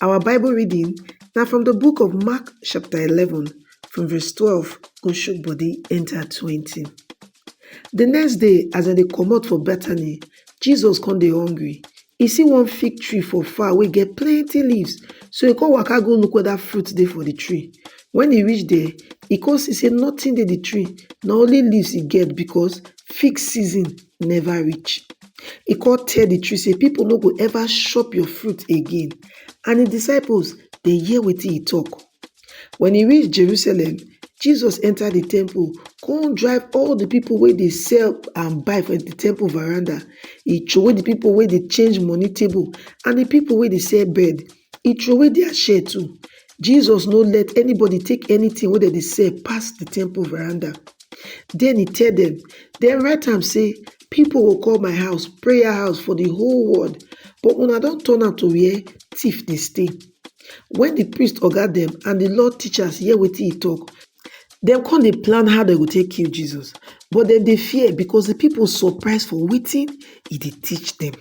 Our Bible reading na from the book of Mark chapter 11 from verse 12 go shook body enter 20. The next day as dem dey comot for Bethany, Jesus come dey hungry. E see one fig tree for far wey get plenty leaves so e come waka go look whether fruit dey for the tree. When e reach there, e come see say nothing dey the tree na only leaves e get because fig season never reach. E come tell the tree say, People no go ever chop your fruit again. And his disciples, they hear what he talk. When he reached Jerusalem, Jesus entered the temple, come drive all the people where they sell and buy for the temple veranda. He throw the people where they change money table and the people where they sell bread. e troway dia share too. Jesus no let anybody take anything wey dem dey sell pass the temple veranda. Then he tell them, Then write am say, People go call my house prayer house for the whole world, but una don turn am to where thief dey stay. When the priest oga them and the law teachers hear wetin he talk, dem come dey plan how dem go take kill Jesus, but dem dey fear because the people surprise for wetin he dey teach them.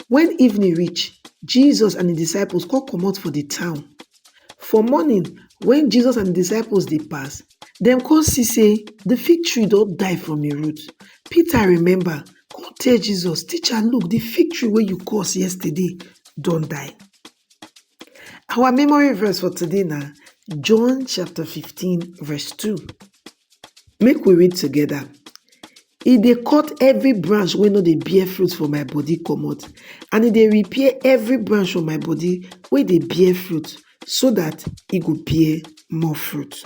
Wen evening reach, Jesus and im disciples come comot for di town. For morning, wen Jesus and im disciples dey pass, dem come see sey di fig tree don die from im root. Peter remember, come tell Jesus, Teacher, look! Di fig tree wey you curse yesterday don die. Our memory verse for today na John chapter fifteen verse two. Make we read together. E dey cut every branch wey no dey bear fruit for my body comot and e dey repair every branch for my body wey dey bear fruit so that e go bear more fruit.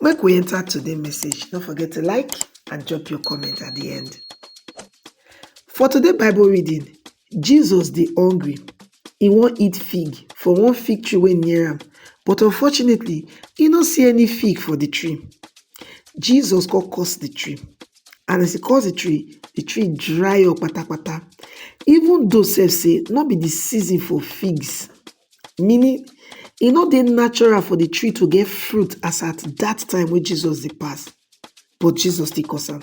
Make we enter today message. No forget to like and drop your comment at the end. For today Bible reading, Jesus dey hungry, e wan eat fig for one fig tree wey near am, but unfortunately, e no see any fig for the tree. Jesus come curse the tree, and as e curse the tree, the tree dry up patapata. Even though sef say no be the season for figs, meaning e no dey natural for the tree to get fruit as at that time wey Jesus dey pass, but Jesus still curse am.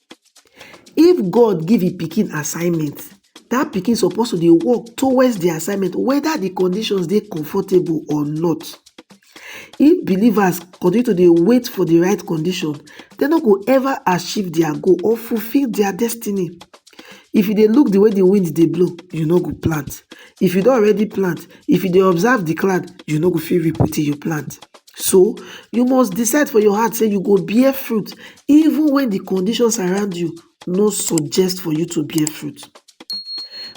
If God give im pikin assignment, dat pikin suppose to dey work towards di assignment whether di conditions dey comfortable or not. If believers continue to dey wait for di right condition, dem no go ever achieve dia goal or fulfill dia destiny. If you dey look di way di wind dey blow, you no go plant. If you don already plant, if you dey observe di cloud, you no go fit reap wetin you plant. So, you must decide for your heart say you go bear fruit even when the conditions around you no suggest for you to bear fruit.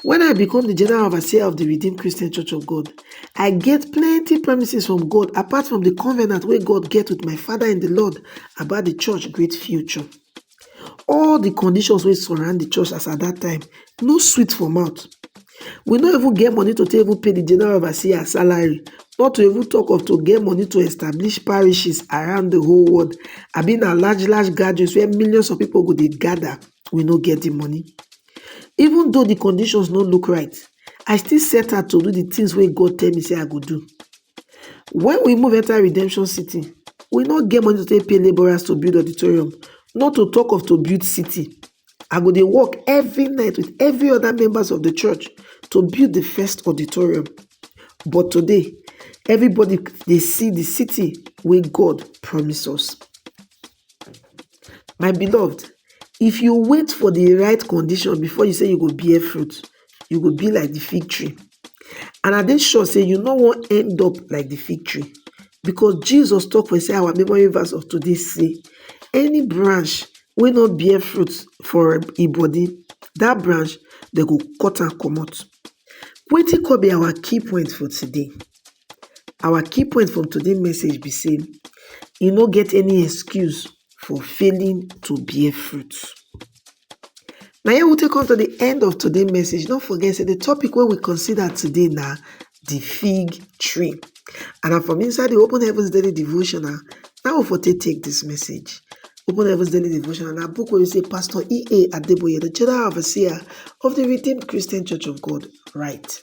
When I become the general overseer of the Redeemed Christian Church of God, I get plenty promises from God apart from the covenant where God get with my father in the Lord about the church great future. All the conditions wey surround the church as at that time no sweet for mouth. We no even get money to take even pay the general overseer salary, not to even talk of to get money to establish parishes around the whole world. I mean, a large, large gatherings where millions of people go they gather. We no get the money. Even though the conditions no look right, I still set out to do the things where God tell me say I go do. Wen we move enter redemption city, we no get money to take pay labourers to build auditorium, not to talk of to build city. I go dey work every night with every other members of the church to build the first auditorium. But today, everybody dey see the city wey God promise us. My beloved, if you wait for the right condition before you say you go bear fruit, you go be like the fig tree. And I dey sure say you no wan end up like the fig tree because Jesus talk for inside our memory verse of today say, any branch wey no bear fruit for im e body, that branch they go cut and comot. Wetin come be our key point for today? Our key point from today message be say e no get any excuse for failing to bear fruit. Na here we take come to the end of today message. No forget say the topic wey we consider today na the fig tree. And na from inside the Open Heavens Daily Devotional na we for take take this message. Open Heavens Daily Devotional na book wey say Pastor E.A. Adeboye, the General Overseer of the Redeemed Christian Church of God, write.